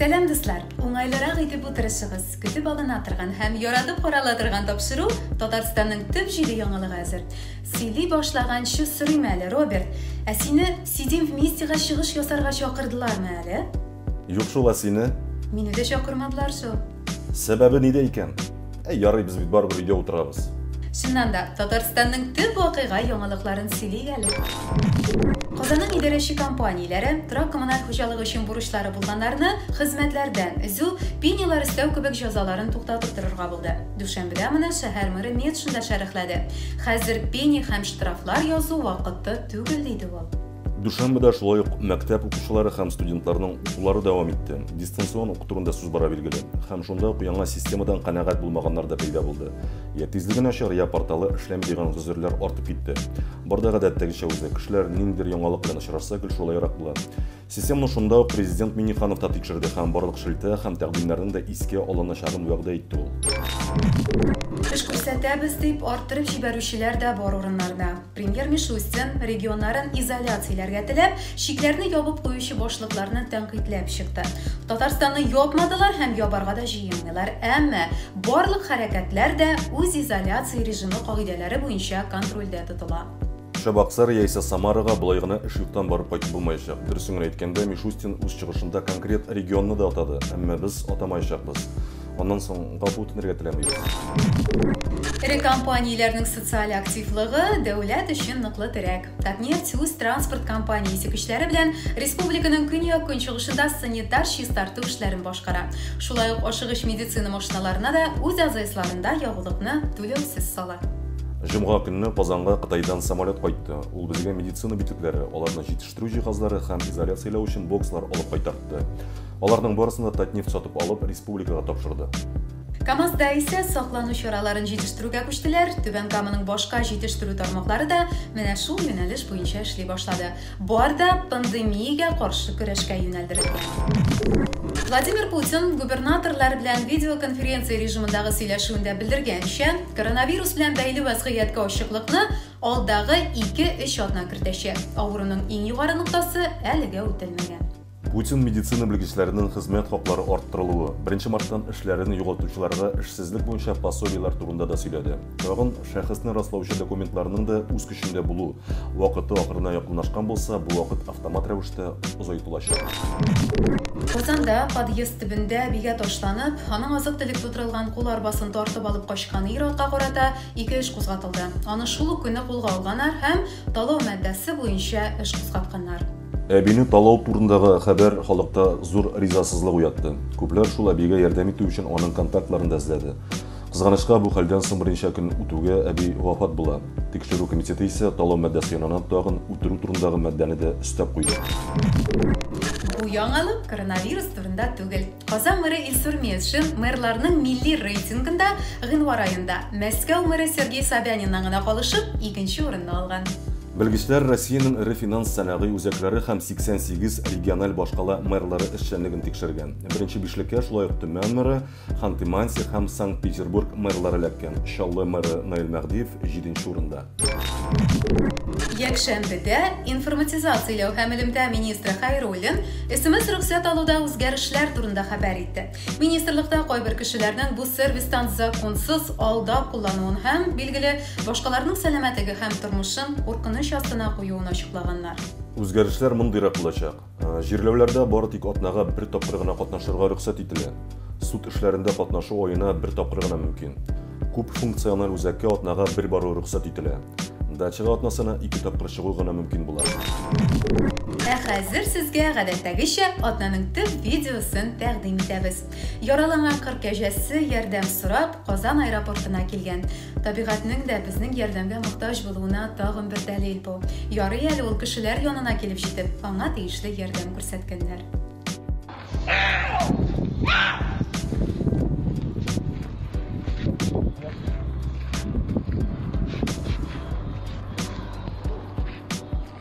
Сәлам дуслар! Уңайлырак итеп утырышыгыз. Көтеп алына торган һәм яратып карала торган тапшыру Татарстанның төп җиде яңалыгы әзер. Сөйли башлаганчы сорыйм әле, Роберт, ә сине Сидим вместега чыгыш ясарга чакырдылармы әле? Юк шул, ә сине? Мине дә чакырмадылар шул. Сәбәбе нидә икән? Әй, ярый, без бит барыбер өйдә утырабыз. Чыннан да, Татарстанның төп вакыйга яңалыкларын сөйлик әле. Казанның идарәче компанияләре торак-коммуналь хуҗалык өчен бурычлары булганнарны хезмәтләрдән өзү, пенилар өстәү кебек җәзаларын туктатып торырга булды. Дүшәмбедә моны шәһәр мэры Метшин да шәрехләде. Хәзер пени һәм штрафлар язу вакыты түгел, диде ул. Дүшәмбедә шулай ук мәктәп укучылары һәм студентларның укулары дәвам итте. Дистанцион уку турында сүз бара билгеле. Һәм шунда ук яңа системадан канәгать булмаганнар да пәйда булды. Я тизлеге начар, я порталы эшләми дигән гозерләр артып китте. Бар да гадәттәгечә үзе. Кешеләр ниндидер яңалык белән очрашса, гел шулайрак була. Системаны шунда ук президент Минниханов та тикшерде һәм барлык шелтә һәм тәкъдимнәрнең дә искә алыначагын вәгъдә итте ул. Эш күрсәтәбез дип арттырып җибәрүчеләр дә бар урыннарда. Премьер Мишустин, регионнарын изоляцияләргә теләп, чикләрне ябып куючы башлыкларны тәнкыйтьләп чыкты. Татарстанны япмадылар һәм ябарга да җыенмыйлар, әмма барлык хәрәкәтләр дә үз изоляция режимы кагыйдәләре буенча контрольдә тотыла. Чабаксар яисә Самарага болай гына эш юктан барып кайтып булмаячак. Дөресен генә әйткәндә, Мишустин үз чыгышында конкрет регионны да атады, әмма без атамаячакбыз. Аннан соң гафу үтенергә теләмибез. Эре компанияләрнең социаль активлыгы дәүләт өчен ныклы терәк. Татнефть үз транспорт компаниясе көчләре белән республиканың көньяк-көнчыгышында санитар чистарту эшләрен башкара. Шулай ук ашыгыч медицина машиналарына да үз АЗСларында ягулыкны түләүсез сала. Җомга көнне Казанга Кытайдан самолет кайтты. Ул безгә медицина битүкләре, аларны җитештерү җиһазлары һәм изоляцияләү өчен бокслар алып кайтартты. Аларның барысын да Татнефть сатып алып, республикага тапшырды. КАМАЗда исә саклану чараларын җитештерүгә күчтеләр. Түбән Каманың башка җитештерү тармаклары да менә шул юнәлеш буенча эшли башлады. Бар да пандемиягә каршы көрәшкә юнәлдерелгән. Владимир Путин губернаторлар белән видеоконференция режимындагы сөйләшүендә белдергәнчә, коронавирус белән бәйле вәзгыятькә ачыклыкны алдагы 2-3 атна кертәчәк. Авыруның иң югары ноктасы әлегә үтелмәгән. Путин медицина белгечләренең хезмәт хаклары арттырылуы, беренче марттан эшләрен югалтучыларга эшсезлек буенча пособиеләр турында да сөйләде. Тагын шәхесне раслаучы документларның да үз көчендә булу вакыты ахырына якынлашкан булса, бу вакыт автомат рәвештә озайтылачак. Казанда подъезд төбендә бигә ташланып, аның азык-төлек тутырылган кул арбасын тартып алып качкан ир-атка карата ике эш кузгатылды. Аны шул ук көнне кулга алганар һәм талау маддәсе буенча эш кузгатканнар. Әбине талау турындагы хәбәр халыкта зур ризасызлык уятты. Күпләр шул әбигә ярдәм итү өчен аның контактларын да эзләде. Кызганычка, бу хәлдән соң берничә көн үтүгә әби вафат була. Тикшерү комитеты исә талау маддәсе янына тагын үтерү турындагы маддәне дә өстәп куйды. Бу яңалык коронавирус турында түгел. Казан мэры Илсур Метшин мэрларның милли рейтингында гыйнвар аенда Мәскәү мэры Сергей Собяниннан гына калышып, икенче урынны алган. Белгечләр Россиянең эре финанс сәнәгый үзәкләре һәм 88 региональ башкала мэрлары эшчәнлеген тикшергән. Беренче бишлеккә шулай ук Төмән мэры, Ханты-Мансийск һәм Санкт-Петербург мэрлары эләккән. Чаллы мэры Наил Мәһдиев 7 урында. Якшәмбедә информатизацияләү һәм элемтә министры Хайруллин смс рөхсәт алуда үзгәрешләр турында хәбәр итте. Министрлыкта кайбер кешеләрнең бу сервистан законсыз алдап куллануын һәм, билгеле, башкаларның сәламәтлеге һәм тормышын куркыныч астына куюын ачыклаганнар. Үзгәрешләр мондыйрак булачак. Җирләүләрдә бары тик атнага бер тапкыр гына катнашырга рөхсәт ителә. Суд эшләрендә катнашу аена бер тапкыр гына мөмкин. Күп функциональ үзәккә атнага бер бару рөхсәт ителә. Дачага атнасына ике тапкыр чыгу гына мөмкин була. Ә хәзер сезгә, гадәттәгечә, атнаның төп видеосын тәкъдим итәбез. Яраланган кыр кәҗәсе, ярдәм сорап, Казан аэропортына килгән. Табигатьнең дә безнең ярдәмгә мохтаҗ булуына тагын бер дәлил бу. Ярый әле ул кешеләр янына килеп җитеп, аңа тиешле ярдәм күрсәткәннәр.